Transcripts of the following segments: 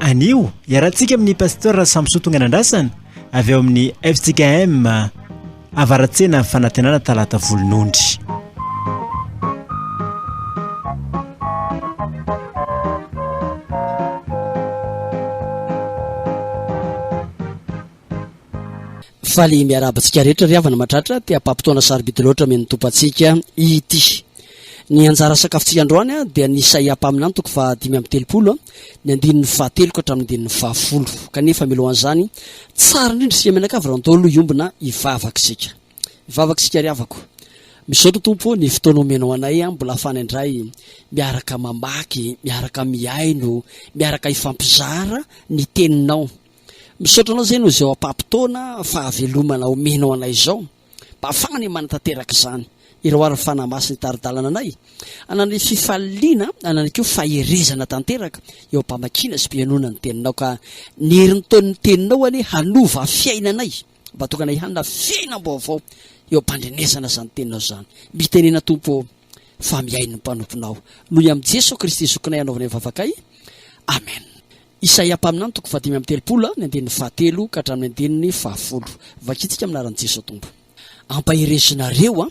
Anio, iarahantsika amin'ny Pasteur Samson Tonganandrasana avy ao amin'ny FJKM Avaratsena Fanantenana Talata Volonondry. Faly miarahaba antsika rehetra ry havana matratra te hampampotoana sarobidy loatra amen'ny tompo antsika ity. Ny anjara sakafontsika androany dia ny Isaia mpaminany toko faha dimy amby telopolo, ny andininy fahatelo ka hatramin'ny andininy fahafolo. Kanefa milohan'izany, tsara indrindra isika mianakavy raha ntaolo hiombona hivavaka isika. Hivavaka isika ry havako. Misaotra tompo ny fotoana omenao anay, mbola afana indray miaraka mamaky, miaraka mihaino, miaraka hifampizara ny teninao. Misaotra anao zay noho izay oapapotoana fahavelomana omenao anay izao mba afahana ny manatanteraka izany ireo ary ny fanahy masiny taridalana anay anan'ny fifaliana anany koa faherezana tanteraka eo ampamakiana sy pianona ny teninao ka ny herin'ny taon'ny teninao anie hanova fiainanay mba tokana ihanyna fiainam-baovao eo ampandrenesana izany teninao izany mitenena tompo fa mihain'ny mpanomponao noho i amin'i jeso kristy zokinay anaovana ny vavakay amen Isaia mpaminany toko fahadimy amby telopolo, ny andininy fahatelo ka hatramin'ny andininy fahafolo. Vakintsika amin'ny anaran'i Jesoa Tompo. Ampaherezinareo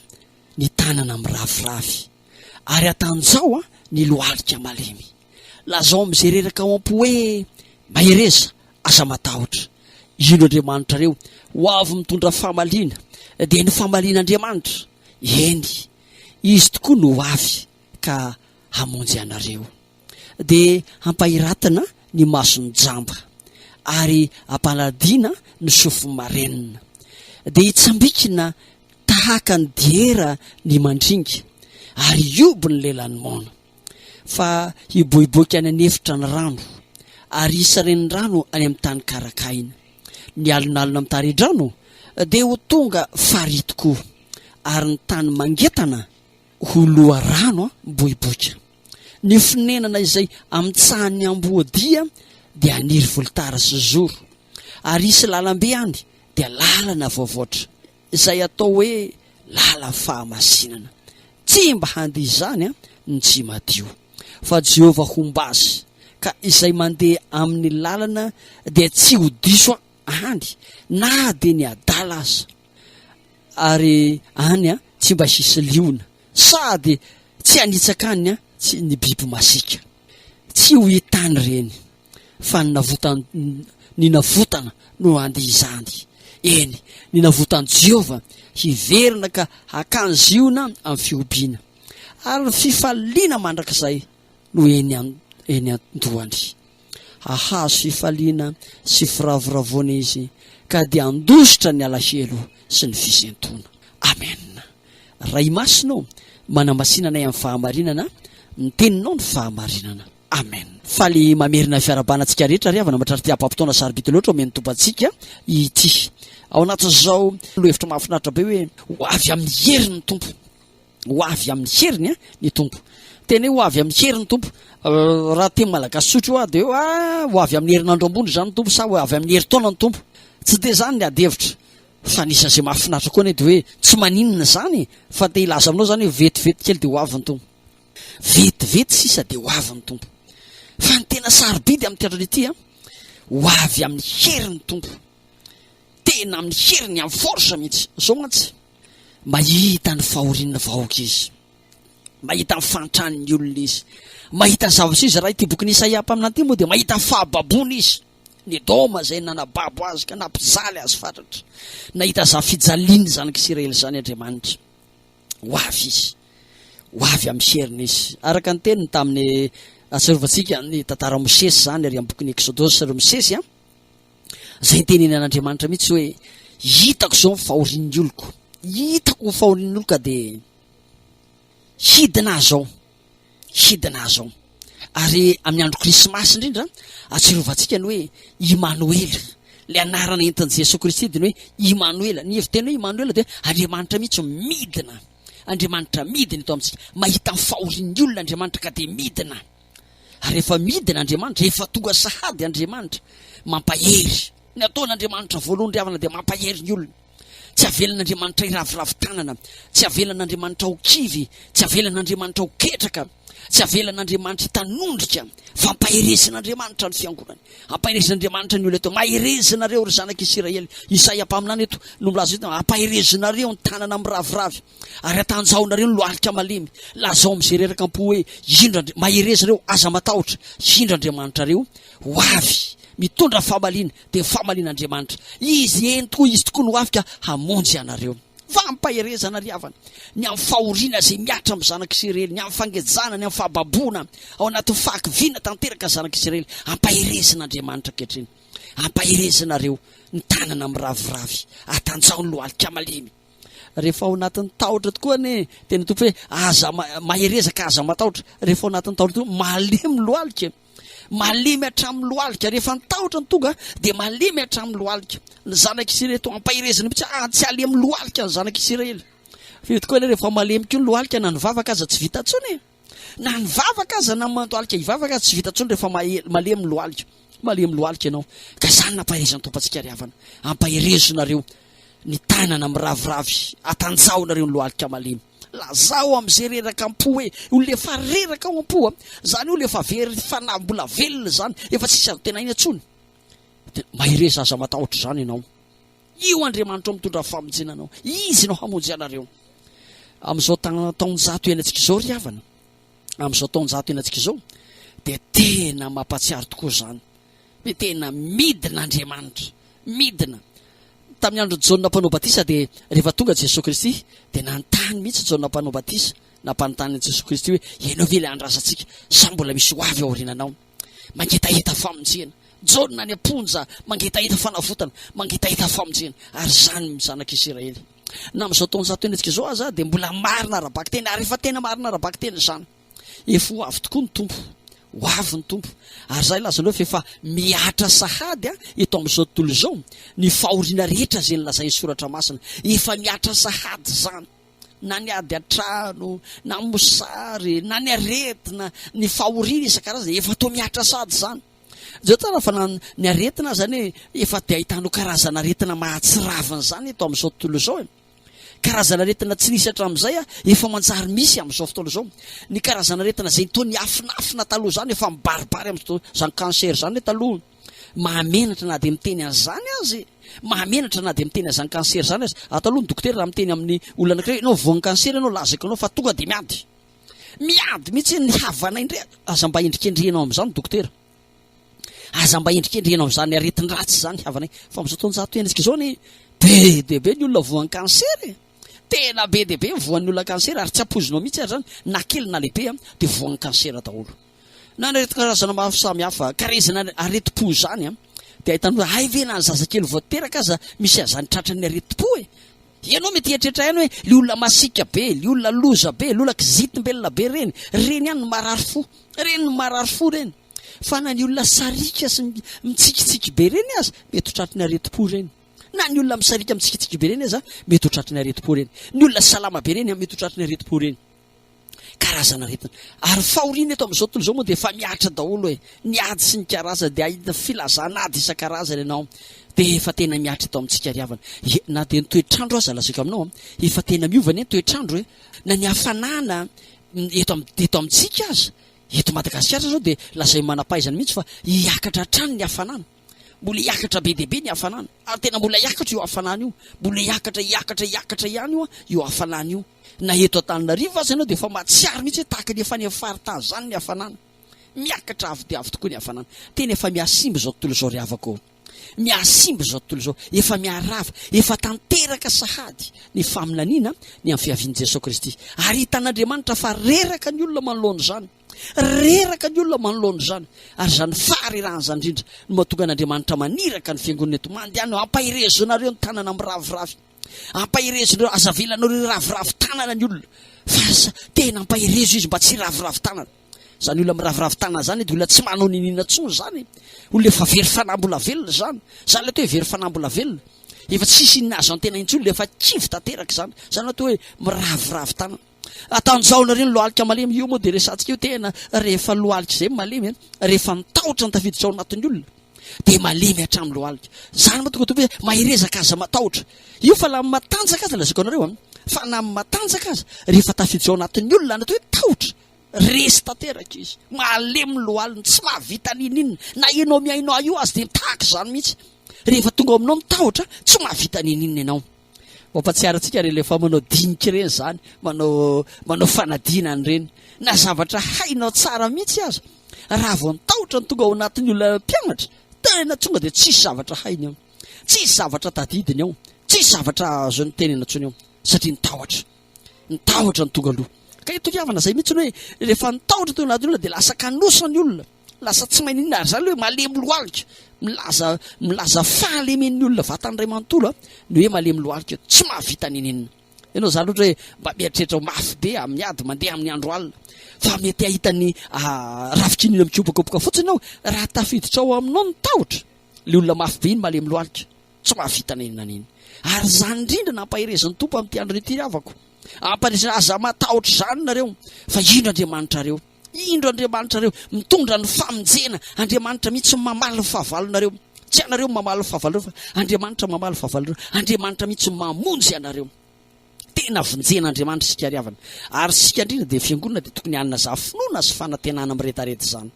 ny tanana miraviravy, ary atanjaho ny lohalika malemy. Lazao amin'izay reraka ao am-po hoe, Mahereza, aza matahotra. Ino Andriamanitrareo? Ho avy mitondra famaliana, dia ny famalian'Andriamanitra, eny, Izy tokoa no ho avy ka hamonjy anareo. dia hampahiratana ny mason'ny jamba, ary hampanadina ny sofin'ny marenina. Dia hitsambikina tahaka ny diera ny mandringa, ary hihoby ny lelan'ny maona. Fa hiboiboika any an'efitra ny rano, ary hisy renirano any amin'ny tany karakahina. Ny alonalona mitari-drano dia ho tonga farihy tokoa, ary ny tany mangetana ho loharano miboiboika. Ny fonenana izay amitsahan'ny amboadia dia haniry volotara sy zoro, ary hisy lalambe any dia lalana voavoatra, izay atao hoe lalan'ny fahamasinana. Tsy mba handeha izany ny tsy madio, fa Jehovah homba azy, ka izay mandeha amin'ny lalana dia tsy ho diso any na dia ny adala aza, ary any tsy mba hisy liona Sady tsy hanitsaka any an tsy ny biby masiaka. Tsy ho hitany ireny. Fa ny navotan ny navotana no handia izany. Eny, ny navotan'i Jehovah hiverina ka hakany Ziona amin'ny fihobiana. Ary ny fifaliana mandrakizay no eny an eny an-dohany. hahazo fifaliana sy firavoravoana izy ka dia handositra ny alahelo sy ny fisentoana. Amen. Ray Masina ô, manamasina anay amin'ny fahamarinana, ny teninao ny fahamarinana. Amen. Faly mamerina fiarahabana antsika rehetra ry havana matrarty hapam-potoana sarobidy loatra omeny Tompo antsika ity ao anatin'izao lohahevitra mahafinaritra be hoe ho avy amin'ny herin'ny Tompo. Ho avy amin'ny heriny ny Tompo. Tena hoe ho avy amin'ny heriny Tompo. Raha teny malagasy sotra io ah, dia hoe ah, ho avy amin'ny herinandro ambony izany ny Tompo sa ho avy amin'ny herintaona ny Tompo. Tsy dia izany ny adihevitra. Fa ny isan'izay mahafinaritra koa anie dia hoe tsy maninona izany fa te hilaza aminao izany hoe vetivety kely dia ho avy ny Tompo. Vetivety sisa dia ho avy ny Tompo. Fa ny tena sarobidy amin'ity andro ity an, ho avy amin'ny heriny Tompo. Tena amin'ny heriny, amin'ny force mihitsy. Izao mantsy. Mahita ny fahorian'ny vahoaka izy. Mahita ny fahantran'ny olona izy. Mahita ny zavatra izy. Raha ity bokin'i Isaia mpaminany ity moa dia mahita ny fahababoana izy. Ny Edoma izay nanababo azy ka nampijaly azy fatratra. Nahita izany fijalian'ny zanak'Isiraely izany Andriamanitra. Ho avy izy. Ho avy amin'ny heriny izy. Araka ny teniny tamin'ny atsarovantsika ny tantara Mosesy izany ary amin'ny bokin'ny Exodus ireo Mosesy an. Izay nitenenin'Andriamanitra mihitsy hoe hitako izao ny fahorian'ny oloko, hitako ny fahorian'ny oloko ka dia hidina ahy izao, hidina ahy izao. Ary amin'ny andro krismasy indrindra, atsirovantsika ny hoe Imanoela, ilay anarana entin'i Jesoa Kristy dia ny hoe Imanoela. Ny heviteny hoe Imanoela dia Andriamanitra mihitsy midina, Andriamanitra midina eto amintsika. Mahita ny fahorian'ny olona Andriamanitra ka dia midina. Ary efa midina Andriamanitra, efa tonga sahady Andriamanitra. Mampahery. Ny ataon'Andriamanitra voalohany ry havana dia mampahery ny olona. Tsy avelan'Andriamanitra hiraviravy tanana, tsy avelan'Andriamanitra ho kivy, tsy avelan'Andriamanitra ho ketraka, tsy avelan'Andriamanitra hitanondrika. Fampaherezin'Andriamanitra ny fiangonany. Ampaherezin'Andriamanitra ny olona eto. Maherezinareo ry zanak'Isiraely. Isaia mpaminany eto no milaza eto, ampaherezinareo ny tanana miraviravy. Ary atanjaonareo ny lohalika malemy, lazao amin'izay reraka am-po hoe, Indro Andri-, mahereza ireo, aza matahotra, indro Andriamanitrareo ho avy, mitondra famaliana, dia famalian'Andriamanitra. Izy, eny tokoa, Izy tokoa no ho avy ka hamonjy anareo. Fampaherezana ary havana, ny amin'ny fahoriana izay mihatra amin'ny zanak'Isiraely, ny amin'ny fangejana, ny amin'ny fahababoana, ao anatin'ny fahakiviana tanteraka ny zanak'Isiraely. Ampaherezina Andriamanitra ankehitriny. Ampaherezina ireo, ny tanana miraviravy. Atanjaho ny lohalika malemy. Rehefa ao anatin'ny tahotra tokoa anie dia ny tompo hoe aza mahereza ka aza matahotra. Rehefa ao anatin'ny tahotra tokoa malemy lohalika. Malemy hatramin'ny lohalika. Rehefa ny tahotra ny tonga dia malemy hatramin'ny lohalika. Ny zanak'i Isiraely toa ampaherezana mihitsy ah tsy alemy lohalika ny zanak'i Isiraely. Feo tokoa anie rehefa malemy koa ny lohalika na ny vavaka aza tsy vita intsony. Na ny vavaka aza na mandohalika hivavaka aza tsy vita intsony rehefa malemy lohalika. Malemy lohalika ianao. Ka izany nampaherezan'ny Tompontsika ry havana. Ampaherezo nareo ny tanana miraviravy atanjaho nareo ny lohalika malemy. Lazao amin'izay reraka am-po hoe olona efa reraka ao am-po a. Izany olona efa very fanahy mbola velona izany, efa tsisy azo tenaina intsony. Dia mahereza aza matahotra izany ianao. Io Andriamanitra ao mitondra famonjena anao. Izy no hamonjy anareo. Amin'izao taonjato iainantsika izao ry havana, amin'izao taonjato iainantsika izao, dia tena mampatsiaro tokoa izany. Hoe tena midina Andriamanitra, midina. Tamin'ny andron'i Jaona mpanao batisa dia rehefa tonga Jesoa Kristy dia nanontany mihitsy Jaona mpanao batisa, nampanontany an'i Jesoa Kristy hoe, ianao ve ilay andrasantsika sa mbola misy ho avy aoriananao? Mangetaheta famonjena. Jaona any am-ponja mangetaheta fanavotana, mangetaheta famonjena. Ary izany ny zanak'i Isiraely. Na amin'izao taonjato herintsika izao aza dia mbola marina ara-bakiteny, ary efa tena marina ara-bakiteny izany. Efa ho avy tokoa ny Tompo. Ho avy ny Tompo. Ary izay lazanao fa efa mihatra sahady eto amin'izao tontolo izao ny fahoriana rehetra izay nolazain'ny Soratra Masina. Efa mihatra sahady izany. na ny ady an-trano, na ny mosary, na ny aretina, ny fahoriana isan-karazany, efa toa mihatra sady izany. Izao tsara fa na ny aretina aza anie efa dia ahitanao karazana aretina mahatsiravina izany eto amin'izao tontolo izao e. Karazana aretina tsy nisy hatramin'izay efa manjary misy amin'izao fotoana izao. Ny karazana aretina izay toa niafinafina taloha izany efa mibaribary amin'izao izany cancer izany taloha. Mahamenatra na dia miteny an'izany aza e! Mahamenatra na dia miteny an'izany cancer izany aza. Ato aloha ny dokotera raha miteny amin'ny olona anankiray hoe ianao voan'ny cancer ianao, lazaiko anao fa tonga dia miady. Miady mihitsy ny havanay indray. Aza mba endrikendrehinao amin'izany dokotera. Aza mba endrikendrehinao amin'izany aretin-dratsy izany ny havanay. Fa amin'izao taonjato iainantsika izao anie, be dia be ny olona voan'ny cancer e! Tena be dia be ny voan'ny olona cancer ary tsy ampoizinao mihitsy ary izany na kely na lehibe dia voan'ny cancer daholo. Na aretin-karazana maro samihafa. Ka raha izany aretim-po izany dia ahitana hoe hay ve na ny zazakely vao teraka aza misy an'izany tratran'ny aretim-po e! Ianao mety hieritreritra ihany hoe ilay olona masiaka be, ilay olona loza be, ilay olona kizitim-belona be ireny, ireny ihany no marary fo. Ireny no marary fo ireny. Fa na ny olona sariaka sy mitsikitsiky be ireny aza mety ho tratran'ny aretim-po ireny. Na ny olona misariaka mitsikitsiky be ireny aza mety ho tratran'ny aretim-po ireny. Ny olona salama be ireny mety ho tratran'ny aretim-po ireny. karazana aretina. Ary fahoriana eto amin'izao tontolo izao moa dia efa mihatra daholo e. Ny ady sy ny karazana dia ahitana filazana ady isan-karazany ianao dia efa tena mihatra eto amintsika ry havana. Ye, na dia ny toetr'andro aza lazaiko aminao a, efa tena miova anie ny toetr'andro e. Na ny hafanana eto am- eto amintsika aza, eto Madagasikara izao dia lazain'ny manam-pahaizana mihitsy fa hiakatra hatrany ny hafanana. Mbola hiakatra be dia be ny hafanana. Ary tena mbola hiakatra io hafanana io. Mbola hiakatra, hiakatra, hiakatra ihany io a, io hafanana io. Na eto Antananarivo aza ianao dia efa mahatsiaro mihitsy hoe tahaka ny efa any amin'ny faritany izany ny hafanana. Miakatra avo dia avo tokoa ny hafanana. Tena efa mihasimba izao tontolo izao ry havako ô! Mihasimba izao tontolo izao, efa miharava, efa tanteraka sahady ny faminaniana ny amin'ny fiavian'i Jesoa Kristy. Ary hitan'Andriamanitra fa reraka ny olona manoloana izany. Reraka ny olona manoloana izany. Ary izany faharerahana izany indrindra no mahatonga an'Andriamanitra maniraka ny Fiangonana eto. Mandehana eo, hampaherezonareo ny tanana miraviravy. Ampaherezonareo, aza avelanareo hiraviravy tanana ny olona, fa aza, tena ampaherezo izy mba tsy hiraviravy tanana. Izany olona miraviravy tanana izany dia olona tsy manao niniana intsony izany e. Olona efa very fanahy mbola velona izany. Izany ilay atao hoe very fanahy mbola velona. Efa tsisy inona azo antena intsony, ilay efa kivy tanteraka izany. Izany no atao hoe miraviravy tanana. Atanjaonareo ny lohalika malemy io moa dia resahantsika io tena rehefa lohalika izay malemy an, rehefa ny tahotra no tafiditra ao anatin'ny olona dia malemy hatramin'ny lohalika. Izany moa tonga hoe maherezaka aza matahotra. Io fa lamin'ny matanjaka aza lazaiko anareo an, fa na amin'ny matanjaka aza rehefa tafiditra ao anatin'ny olona ny atao hoe tahotra, resy tanteraka izy, malemy ny lohaliny, tsy mahavita n'inon'inona, na ianao mihainoa io aza dia tahaka izany mihitsy, rehefa tonga ao aminao ny tahotra tsy mahavita n'inon'inona ianao. Mampatsiaro antsika ireny rehefa manao dinika ireny izany, manao manao fanadinana ireny. Na zavatra hainao tsara mihitsy aza, raha vao nitahotra ny tonga ao anatin'ny olona mpianatra, tena tonga dia tsisy zavatra hainy ao, tsisy zavatra tadidiny ao, tsisy zavatra azony tenena intsony ao, satria nitahotra, nitahotra ny tonga aloha. Ka itony havana izay mihitsy ny hoe rehefa nitahotra teo anatin'ny olona dia lasa kanosa ny olona. Lasa tsy maninona ary izany ilay hoe malemy lohalika. Milaza milaza fahalemen'ny olona vatany iray manontolo ny hoe malemy lohalika, tsy mahavita n'inon'inona. Ianao izany ohatra hoe mba mieritreritra ho mafy be amin'ny ady mandeha amin'ny andro alina, fa mety hahita ny rafi-kiniana mikopakopoka fotsiny aho raha tafiditra ao aminao ny tahotra. Ilay olona mafy be iny malemy lohalika. Tsy mahavita na inona na inona. Ary izany indrindra no ampaherezin'ny Tompo amin'ity andro ity, ry havako. Ampaherezina, aza matahotra izany nareo, fa indro Andriamanitrareo. Indro Andriamanitrareo, mitondra ny famonjena. Andriamanitra mihitsy no mamaly ny fahavalonareo. Tsy ianareo no mamaly ny fahavalonareo, fa Andriamanitra mamaly ny fahavalonareo. Andriamanitra mihitsy no mamonjy anareo. Tena vonjen'Andriamanitra isika, ry havana. Ary isika indrindra dia fiangonana dia tokony hanazava finoana sy fanantenana miredareda izany.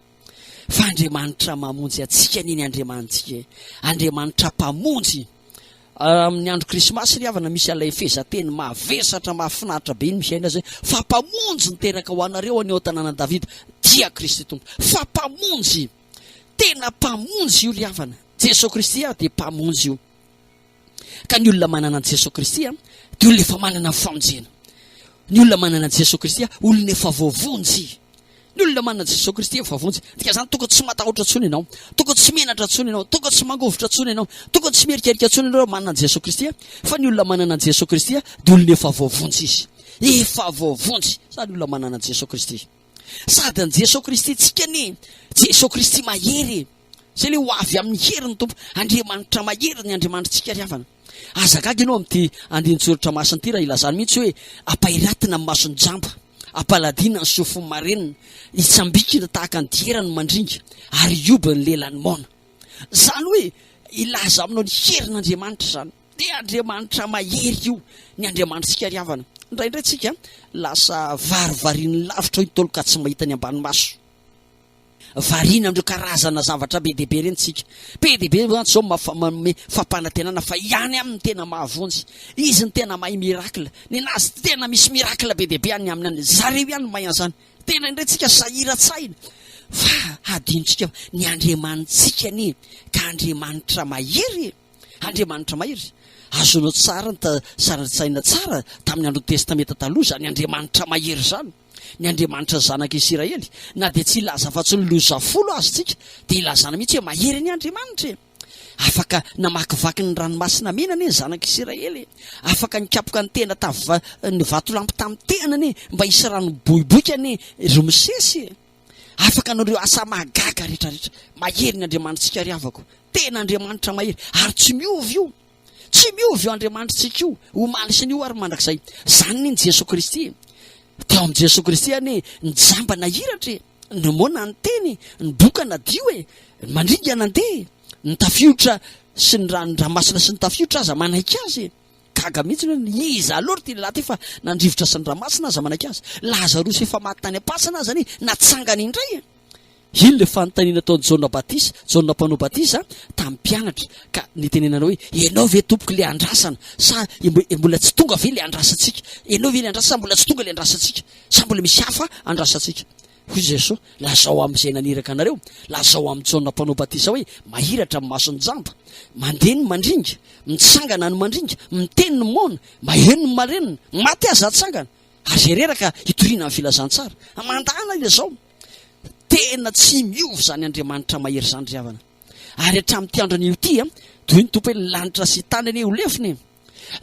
Fa Andriamanitra mamonjy antsika anie ny Andriamanitsika e! Andriamanitra mpamonjy! Amin'ny andro krismasy ry havana misy ilay fehezanteny mavesatra mahafinaritra be iny misaina azy hoe fa mpamonjy niteraka ho anareo any ao an-tanànan'i Davida dia Kristy Tompo. Fa mpamonjy! Tena mpamonjy io ry havana. Jesoa Kristy ary dia mpamonjy io. Ka ny olona manana an'i Jesoa Kristy dia olona efa manana ny famonjena. Ny olona manana an'i Jesoa Kristy olona efa voavonjy. Ny olona manana an'i Jesoa Kristy efa voavonjy. Dika izany tokony tsy matahotra intsony ianao, tokony tsy menatra intsony ianao, tokony tsy mangovitra intsony ianao, tokony tsy mierikerika intsony ianao raha manana an'i Jesoa Kristy fa ny olona manana an'i Jesoa Kristy dia olona efa voavonjy izy. Efa voavonjy izany olona manana an'i Jesoa Kristy. Sady an'i Jesoa Kristy tsika anie Jesoa Kristy mahery e! Zay le ho avy amin'ny herin'ny Tompo. Andriamanitra mahery ny Andriamanitritsika ry havana. Aza gaga ianao amin'ity andinin-tsoratra masina ity raha ilazany mihitsy hoe ampairatina ny mason'ny jamba, ampaladina ny sofin'ny marenina, hitsambikina tahaka ny diera ny mandringa ary hioby ny lelan'ny maona. Zany hoe ilaza aminao ny herin'Andriamanitra zany. Dia Andriamanitra mahery io ny Andriamanitrtsika ry havana. Indraindray tsika lasa varivarin'ny lavitra eo Ntaolo ka tsy mahita ny ambany maso. Variana amin'ireo karazana zavatra be dia be ireny tsika. Be dia be mantsy izao ny manome fampanantenana fa hiany aminy ny tena mahavonjy. Izy no tena mahay miracle. Ninazy tena misy miracle be dia be any aminy any. Zareo ihany no mahay an'izany. Tena indray tsika sahiratsahina fa hadinontsika fa ny Andriamanitsika anie ka Andriamanitra mahery e. Andriamanitra Mahery. Azonao tsara ny sarin-tsaina tsara tamin'ny andron'ny Testamenta Taloha izany Andriamanitra mahery izany, ny Andriamanitra ny zanaka Isiraely. Na dia tsy hilaza afa-tsy ny loza folo aza isika, dia ilazana mihitsy hoe mahery anie Andriamanitra e! Afaka namakivaky ny Ranomasina Mena anie ny zanaka Isiraely e! Afaka nikapoka ny tena tavy ny vatolampy tamin'ny tehany anie mba hisy rano miboiboika anie ry Mosesy e! Afaka hanao ireo asa mahagaga rehetrarehetra. Mahery ny Andriamanitsika ry havako. Tena Andriamanitra mahery. Ary tsy miova io. Tsy miova io Andriamanitritsika io, omaly sy ny io ary mandrakizay. Izany anie ny Jesoa Kristy e. Tao amin'i Jesoa Kristy anie ny jamba nahiratra e, ny moana niteny e, ny boka nadio e, ny mandringa nandeha e, ny tafiotra sy ny ranodramasina sy ny tafiotra aza manaiky azy e. Gaga mihitsy ny hoe ny iza loatra ity lehilahy ity fa nandrivotra sy niramasina aza manaiky azy. Lazarosy efa maty tany am-pasana aza anie natsangany indray e! Iny ilay fanontaniana ataon'i Jaona Batisa, Jaona Mpanao Batisa, tamin'ny mpianatra ka nitenenana hoe, Ianao ve Tompoko ilay andrasana sa mbola tsy tonga ve ilay andrasantsika? Ianao ve ilay andrasana sa mbola tsy tonga ilay andrasantsika? Sa mbola misy hafa andrasantsika? Hoy Jesosy, Lazao amin'izay naniraka anareo, lazao amin'i Jaona Mpanao Batisa hoe, Mahiratra ny mason'ny jamba, mandeha ny mandringa, mitsangana ny mandringa, miteny ny moana, maheno ny marenina, maty aza atsangana, ary izay reraka hitoriana amin'ny filazantsara. Mandàna ilay zao. Tena tsy miova izany Andriamanitra mahery izany ry havana. Ary hatramin'ity andron'io ity, toy ny Tompo hoe, ny lanitra sy tany anie ho lefona e.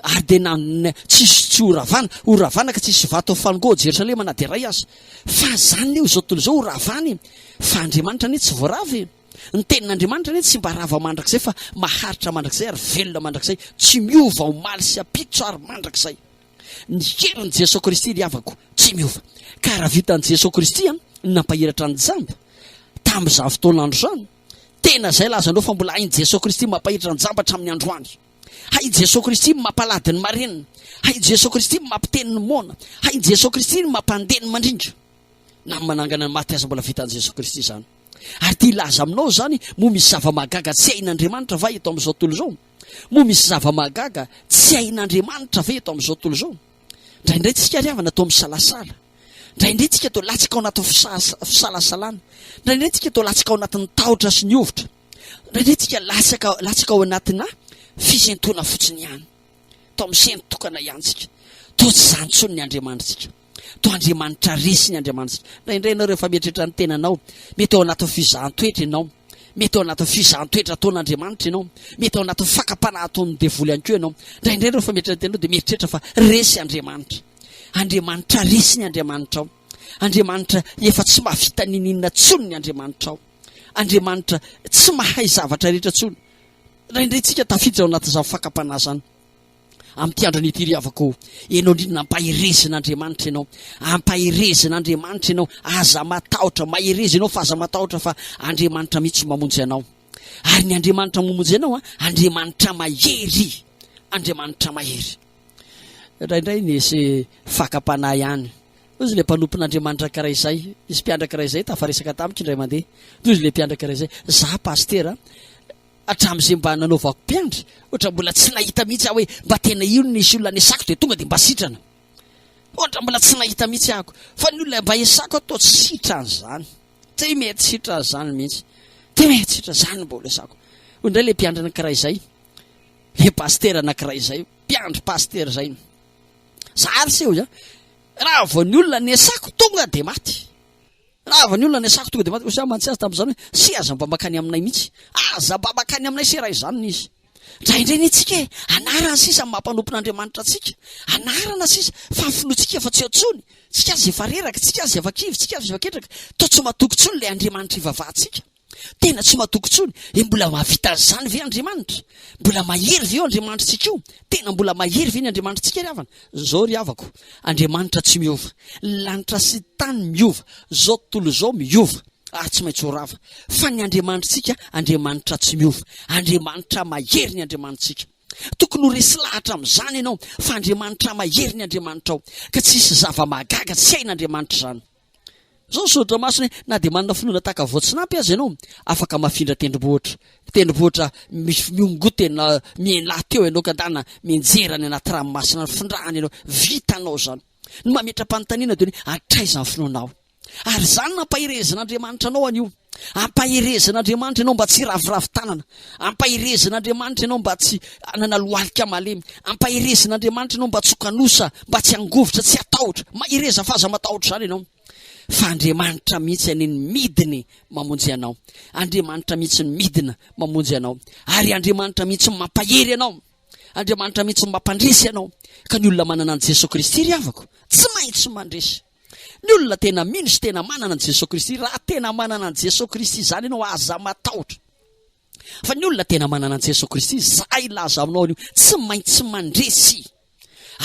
Ary dia nanonona, tsisy tsy ho ravana, ho ravana ka tsy hisy vato hafango ao Jerosalema na dia iray aza. Fa izany anie, izao tontolo izao ho ravana e! Fa Andriamanitra anie tsy voarava e! Ny Tenin'Andriamanitra anie tsy mba rava mandrakizay fa maharitra mandrakizay ary velona mandrakizay, tsy miova omaly sy ampitso ary mandrakizay. Ny herin'i Jesoa Kristy ry havako, tsy miova. Ka raha vitan'i Jesoa Kristy an, ny nampahiratra an'i Jamba, tamin'izany fotoan'andro izany, tena izay lazanao fa mbola hain'i Jesoa Kristy mampahiratra an'i Jamba hatramin'ny androany. Hay i Jesoa Kristy no mampalady ny marenina. Hay i Jesoa Kristy no mampiteny ny moana. Hay i Jesoa Kristy no mampandeha ny mandrindra. Na ny manangana ny maty aza mbola vitan'i Jesoa Kristy izany. Ary ity hilaza aminao izany, moa misy zava-mahagaga tsy hain'Andriamanitra va eto amin'izao tontolo izao? Moa misy zava-mahagaga tsy hain'Andriamanitra ve eto amin'izao tontolo izao? Indraindray tsika ry havana toa misalasala. Indraindray tsika toa latsaka ao anatin'ny fisalasalana. Indraindray tsika toa latsaka ao anatin'ny tahotra sy ny hovitra. Nandritika latsaka latsaka ao anatina fisentoana fotsiny ihany. Tao amin'ny sento tokana ihany tsika. Toa tsy izany intsony ny Andriamanitsika. Toa Andriamanitra resy ny Andriamanitsika. Indraindray ianao rehefa mieritreritra ny tenanao, mety ao anatin'ny fizahan-toetra ianao. Mety ao anatin'ny fizahan-toetra ataon'Andriamanitra ianao. Mety ao anatin'ny fakam-panahy ataon'ny devoly ihany koa ianao. Indraindray rehefa mieritreritra ny tenanao dia mieritreritra fa resy Andriamanitra. Andriamanitra resy ny Andriamanitrao. Andriamanitra efa tsy mahavita ninininona intsony ny Andriamanitrao. Andriamanitra tsy mahay zavatra rehetra intsony. Indraindray tsika tafiditra ao anatin'izany fakam-panahy izany. Amin'ity androny ity ry havako, ianao indrindra ampaherezina Andriamanitra ianao. Ampaherezina Andriamanitra ianao, aza matahotra, mahereza ianao fa aza matahotra fa Andriamanitra mihitsy mamonjy anao. Ary ny Andriamanitra mamonjy anao, Andriamanitra mahery, Andriamanitra mahery. Indraindray ny ese fakam-panahy ihany. Toy izay ilay mpanompon'Andriamanitra ankiray izay, nisy mpiandraka iray izay tafaresaka tamiko indray mandeha. Toy izay ilay mpiandraka iray izay, Izaho pasitera, hatramin'izay mba nanaovako mpiandry, hoatra mbola tsy nahita mihitsy aho hoe mba tena io no nisy olona nesako dia tonga dia mba sitrana. Hoatra mbola tsy nahita mihitsy ahako fa ny olona mba esako aho toa tsy sitran'izany. Tsy mety sitran'izany mihitsy. Tsy mety sitran'izany mba olesako. Hoy indray ilay mpiandry anankiray izay, ilay pasitera anankiray izay, mpiandry pasitera izay. Zary seho izany. Raha vao ny olona nesako tonga dia maty. Raha vao ny olona nesako tonga dia maty. Osa mantsy azy tamin'izany hoe sy aza mba makany aminay mihitsy. Aza mba makany aminay sy raha izany ny izy. Indraindray ny antsika e, anarana sisa ny mampanompon'Andriamanitra antsika. Anarana sisa, fa finoantsika fa tsy eo intsony. Tsika aza efa reraka, tsika aza efa kivy, tsika aza efa ketraka. Toa tsy matoky intsony ilay Andriamanitra ivavahantsika. Tena tsy matoky intsony. Dia mbola mahavita an'izany ve Andriamanitra? Mbola mahery ve io Andriamanitritsika io? Tena mbola mahery ve ny Andriamanitritsika ry havana? Izao ry havako, Andriamanitra tsy miova. Ny lanitra sy ny tany miova, izao tontolo izao miova ary tsy maintsy ho rava. Fa ny Andriamanitritsika, Andriamanitra tsy miova. Andriamanitra mahery ny Andriamanitritsika. Tokony ho resy lahatra amin'izany ianao fa Andriamanitra mahery ny Andriamanitrao, ka tsy hisy zava-mahagaga tsy hain'Andriamanitra izany. Izao ny soratra masina hoe, Na dia manana finoana tahaka voatsinampy aza ianao, afaka hamafindra tendrombohitra. Tendrombohitra misy miongon-tena mihenà teo ianao ka andeha mianjera any anaty ranomasina any findrahana ianao. Vitanao izany. Ny mametra-panontaniana dia hoe, Hatraiza ny finoanao? Ary izany nampaherezan'Andriamanitra anao anio. Ampaherezan' Andriamanitra ianao mba tsy hiraviravy tanana, ampaherezan' Andriamanitra ianao mba tsy hanana lohalika malemy, ampaherezan' Andriamanitra ianao mba tsy ho kanosa, mba tsy hangovitra, tsy hatahotra. Mahereza f'aza matahotra izany ianao, fa Andriamanitra mihitsy anie no midiny mamonjy anao, Andriamanitra mihitsy no midina mamonjy anao, ary Andriamanitra mihitsy no mampahery anao, Andriamanitra mihitsy no mampandresy anao, ka ny olona manana an'i Jesoa Kristy ry havako, tsy maintsy mandresy. Ny olona tena mino sy tena manana an'i Jesoa Kristy, raha tena manana an'i Jesoa Kristy izany ianao, aza matahotra. Fa ny olona tena manana an'i Jesoa Kristy, izay hilaza aminao an'io, tsy maintsy mandresy.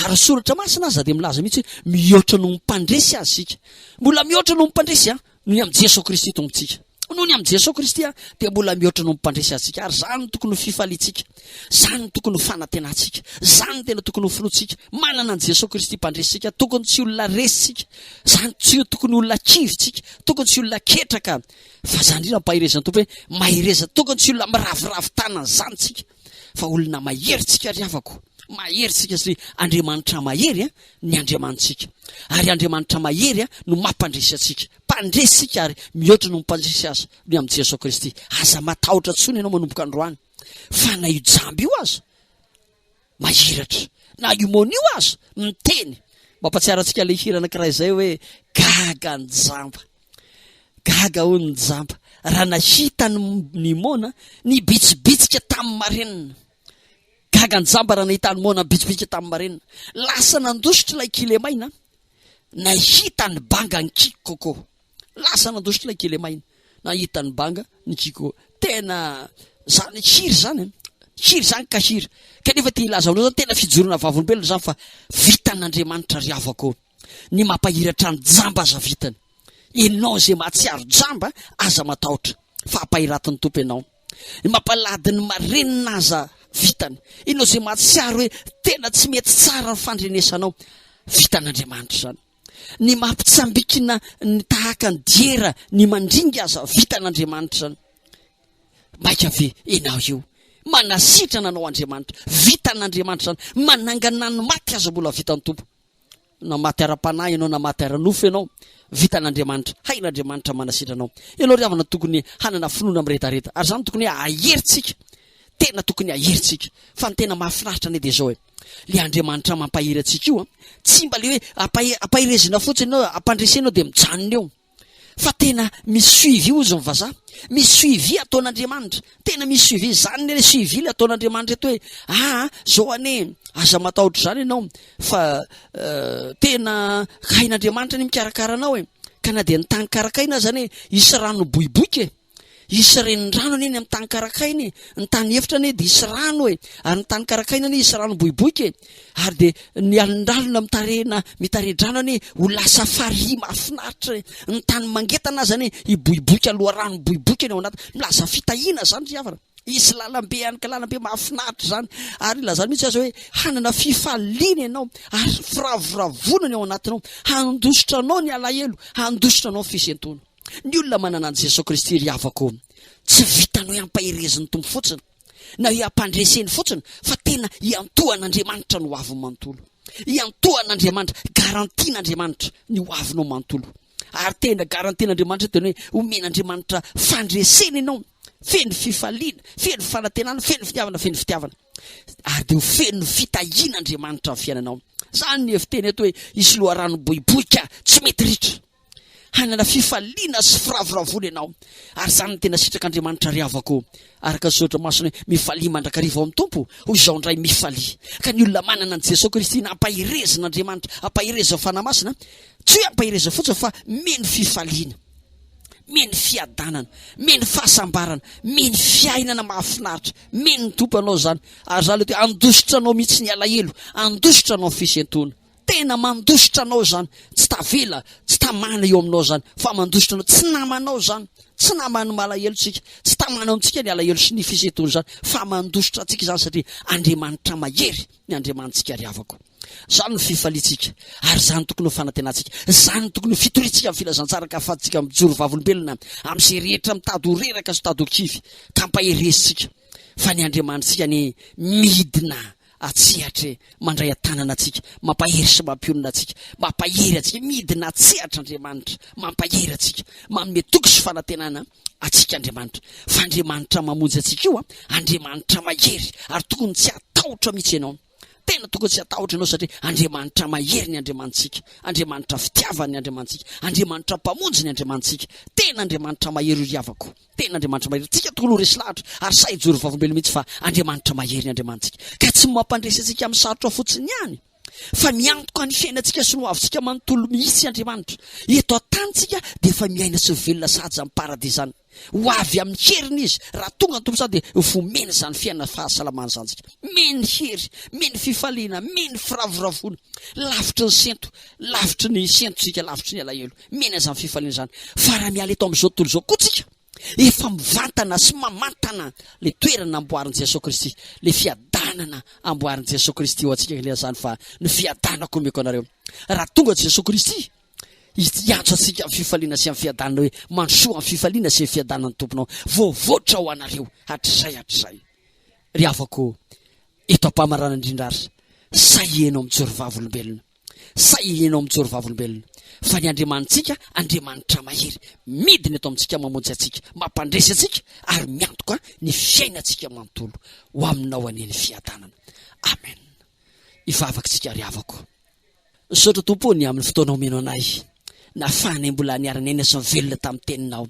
Ary ny soratra masina aza dia milaza mihitsy hoe mihoatra noho ny mpandresy azy isika. Mbola mihoatra noho ny mpandresy, an! Noho ny amin'i Jesoa Kristy Tompontsika. Noho ny amin'i Jesoa Kristy aho dia mbola mihoatra noho ny mpandresy antsika, ary izany no tokony ho fifaliantsika, izany no tokony ho fanantenantsika, izany no tena tokony ho finoantsika. Manana an'i Jesoa Kristy mpandresy antsika, tokony tsy olona resy isika, izany tsy tokony olona kivy isika, tokony tsy olona ketraka, fa izany indrindra ampaherezan'ny Tompo hoe mahereza, tokony tsy olona miraviravy tanana izany isika. fa olona mahery tsika ry havako mahery tsika sy Andriamanitra mahery a ny Andriamanitsika ary Andriamanitra mahery a no mampandresy atsika mpandresy tsika ary mihoatra no mpandresy aza ny amin'i Jesoa Kristy aza matahotra tsony ianao manomboka androany fa na io jamby io aza mahiratra na io monio aza miteny mampatsiara antsika le hira anankiray izay hoe gaga ny jamba Gaga hono ny jamba raha nahita an'i Nimona nibitsibitsika tamin'ny marenina. Gaga ny jamba raha nahita an'i Nimona nibitsibitsika tamin'ny marenina. Lasa nandositra ilay kilemaina nahita ny banga ny Kikoko. Lasa nandositra ilay kilemaina nahita ny banga ny Kikoko. Tena zany kiry zany eh. Kiry zany kahiry. Kanefa te hilaza aminao zany tena fijoroana vavolombelona zany fa vitan'Andriamanitra ry havako. Ny mampahiratra ny jamba aza vitany. Enao izay mahatsiaro jamba aza matahotra fa hampahiratin'ny Tompo enao. Ny mampalahdy ny marenina aza vitany. Enao izay mahatsiaro hoe tena tsy mety tsara ny fandrenesanao, vitan'Andriamanitra izany. Ny mampitsambikina ny tahaka ny diera ny mandringa aza vitan'Andriamanitra izany. Maika ve enao io? Manasitrana anao Andriamanitra. Vitan'Andriamanitra izany. Manangana ny maty aza mbola vitan'ny Tompo. na maty ara-panahy ianao na maty ara-nofo ianao, vitan'Andriamanitra, hain'Andriamanitra manasitrana anao. Ianao ry havana tokony hanana finoana miredareda, ary izany tokony hoe aherintsika, tena tokony aherintsika. Fa ny tena mahafinaritra anie dia izao e, le Andriamanitra mampahery antsika io an, tsy mba le hoe ampaherezina fotsiny ianao, ampandresena ianao dia mijanona eo. Fa tena misy suivi ozy ny vazaha. Misy suivi ataon'Andriamanitra. Tena misy suivi. Zany le suivi le ataon'Andriamanitra eto hoe ah zao ane aza matahotra zany ianao fa euh, tena hain'Andriamanitra ny mikarakara anao e. Ka na dia ny tany karakaina aza ane hisy rano boiboika e. Hisy renirano anie ny amin'ny tany karakaina e, ny tany efitra anie dia hisy rano e, ary ny tany karakaina anie hisy rano boiboika e, ary dia ny alondralona mitarehina mitare-drano anie ho lasa farihy mahafinaritra e, ny tany mangetana aza anie hiboiboika loharano miboiboika ny ao anaty, milaza fitahiana izany ry havana, hisy lalambe ihany ka lalambe mahafinaritra izany, ary ilazany mihitsy aza hoe hanana fifaliana ianao ary firavoravoana ny ao anatinao, handositra anao ny alahelo, handositra anao ny fisentoana. Ny olona manana an'i Jesoa Kristy ry havako tsy vitanao hiampaherezin'ny Tompo fotsiny na hiampandreseny fotsiny fa tena hiantohan'Andriamanitra ny hoaviny manontolo. Hiantohan'Andriamanitra, garantian'Andriamanitra ny hoavinao manontolo. Ary tena garantian'Andriamanitra dia ny hoe homen'Andriamanitra fandresena ianao feno fifaliana, feno fanantenana, feno fitiavana, feno fitiavana. Ary dia ho feno fitahiana Andriamanitra ny fiainanao. Zany ny efi-teny eto hoe hisy loharanom-boiboika tsy mety ritra. Hanana fifaliana sy firavoravoana ianao, ary izany no tena sitrak'Andriamanitra ry havako. Araka ny soratra masina hoe, Mifalia mandrakariva ao amin'ny Tompo, hoy izao indray, Mifalia. Ka ny olona manana an'i Jesoa Kristy nampaherezin'Andriamanitra, ampaherezan'ny Fanahy Masina, tsy hoe ampaherezana fotsiny fa mino fifaliana, mino fiadanana, mino fahasambarana, mino fiainana mahafinaritra, mino ny Tompo anao izany, ary izany ilay hoe handositra anao mihitsy ny alahelo, handositra anao ny fisentoana. tena mandositra anao izany tsy tavela tsy tamana eo aminao izany fa mandositra anao tsy namanao izany tsy naman'ny malahelo tsika tsy tamana amintsika ny alahelo sy ny fisetony izany fa mandositra antsika izany satria andriamanitra mahery ny andriamanitsika ry havako izany ny fifalitsika ary izany tokony ho fanantenantsika izany tokony ho fitoritsika amin'ny filazantsaraka afatsika mijoro vavolombelona amin'izay rehetra mitady ho reraka sy tady ho kivy ka mpaheresitsika fa ny andriamanitsika ny midina An-tsehatra e! Mandray an-tanana antsika, mampahery sy mampionona antsika, mampahery antsika, midina an-tsehatra Andriamanitra, mampahery antsika, manome toky sy fanantenana antsika Andriamanitra, fa Andriamanitra mamonjy antsika io an! Andriamanitra mahery ary tokony tsy hatahotra mihitsy ianao, tena tokony tsy hatahotra ianao satria Andriamanitra mahery ny Andriamanitsika, Andriamanitra fitiavana ny Andriamanitsika, Andriamanitra mpamonjy ny Andriamanitsika, tena Andriamanitra mahery ry havako. Tena Andriamanitra mahery. Tsika tokoa no resy lahatra ary sahy hijoro vavolombelona mihitsy fa Andriamanitra mahery ny Andriamanitsika ka tsy mampandresy antsika amin'ny sarotra fotsiny ihany fa miantoka ny fiainantsika sy ny hoavintsika manontolo mihitsy Andriamanitra. Eto an-tany tsika dia efa miaina sy velona sahaja amin'ny paradisany. Ho avy amin'ny heriny izy raha tonga ny Tompo sahy dia vomena izany fiainana fahasalamana izany tsika. Meny hery, meny fifaliana, meny firavoravoana. Lavitry ny sento, lavitry ny sentotsika, lavitry ny alahelo. Mihena izany fifaliana izany. Fa raha miala eto amin'izao tontolo izao koa tsika, efa mivantana sy mamantana le toerana amboarin'i Jesoa Kristy, le fiadanana amboarin'i Jesoa Kristy ho antsika ange izany fa ny fiadanako omeko anareo. Raha tonga Jesoa Kristy hiantso antsika amin'ny fifaliana sy amin'ny fiadanana hoe, mandrosoa amin'ny fifaliana sy ny fiadanan'ny Tomponao, voavoatra ho anareo hatrizay hatrizay. Ry havako eto am-pamaranana indrindra ary, sa ianao mijoro vavolombelona? Sa ianao mijoro vavolombelona fa ny Andriamanitsika Andriamanitra mahery, midina eto amintsika, mamonjy antsika, mampandresy antsika ary miantoka ny fiainantsika manontolo. Ho aminao anie ny fiadanana. Amen. Ivavaka isika ry havako. Misaotra Tompo o ny amin'ny fotoana omena anay. Nafahanay mbola niara-niaina sy nivelona tamin'ny Teninao.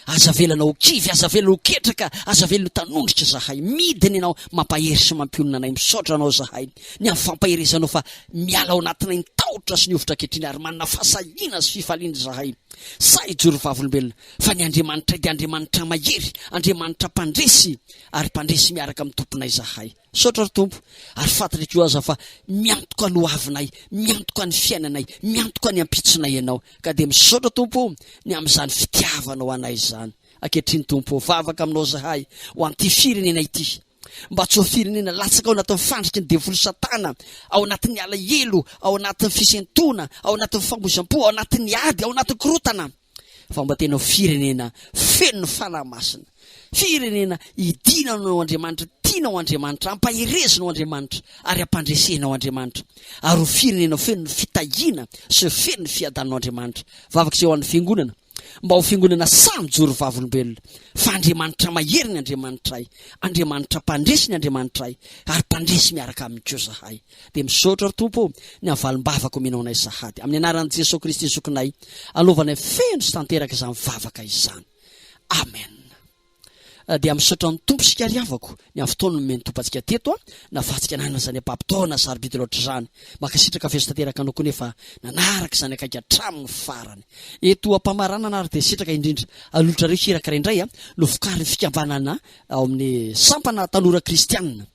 Aza avelana ho kivy, aza avelana ho ketraka, aza avelana ho tanondrika izahay. Midina Ianao, mampahery sy mampionona anay. Misaotra Anao izahay, ny amin'ny fampaherezanao fa miala ao anatinay ny tahotra sy ny hovitra ankehitriny, ary manana fahasahiana sy fifaliana izahay. Sahy hijoro ho vavolombelona, fa ny Andriamanitray dia Andriamanitra mahery, Andriamanitra mpandresy, ary mpandresy miaraka amin'ny Tomponay izahay. Misaotra ry Tompo, ary fantatra koa aza fa miantoka ny hoavinay, miantoka ny fiainanay, miantoka ny ampitsonay Ianao. Ka dia misaotra Tompo o, ny amin'izany fitiavanao anay izany. Ankehitriny Tompo o, vavaka Aminao izahay, ho an'ity firenena ity. Mba tsy ho firenena latsaka ao anatin'ny fandriky ny devoly Satana, ao anatin'ny alahelo, ao anatin'ny fisentoana, ao anatin'ny famoizam-po, ao anatin'ny ady, ao anatin'ny korotana. fa mba tena ho firenena feno ny fanahy masina, firenena idinanao Andriamanitra, tianao Andriamanitra, ampaherezinao Andriamanitra ary ampandresenao Andriamanitra, ary ho firenena feno ny fitahiana sy feno ny fiadananao Andriamanitra. Vavaka izay ho an'ny fiangonana, mba ho fiangonana sahy mijoro vavolombelona, fa Andriamanitra mahery ny Andriamanitray, Andriamanitra mpandresy ny Andriamanitray, ary mpandresy miaraka aminy koa zahay. Dia misaotra ry Tompo ô, ny havalimbavaka omenao anay sahady. Amin'ny anaran'i Jesoa Kristy Zokinay, alovanay feno sy tanteraka izany vavaka izany. Amen. Eh, dia misaotra ny tompo isika ry havako ny amin'ny fotoana nomeny tompo antsika teto a nafatsika nanana izany ampapitaona sarobidy loatra izany makasitraka feso tanteraka anao koa nefa nanaraka izany akaiky hatramin'ny farany eto ampamaranana ary dia sitraka indrindra alotra reo hirakara indray a novokarin'ny fikambanana ao amin'ny sampana tanora kristianina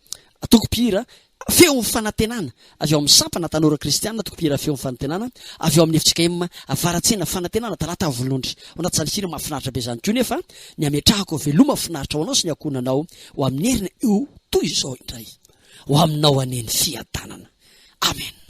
tokompihira Feon'ny fanantenana avy ao amin'ny sampana tanora kristiana toko mpihira Feon'ny fanantenana avy ao amin'ny fjkm Avaratsena Fanantenana Talata Avolondry Ao anaty sary hira mahafinaritra be izany koa nefa ny hametrahako Veloma finaritra ho anao sy ny ankohonanao ho amin'ny heriny Ho toy izao indray ho aminao anie ny fiadanana Amen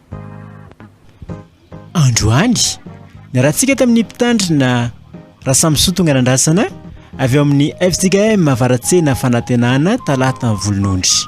Androany, niarahantsika tamin'ny mpitandrina Rasamisoa Tonganandrasana avy ao amin'ny FJKM Avaratsena Fanantenana Talata Volonondry.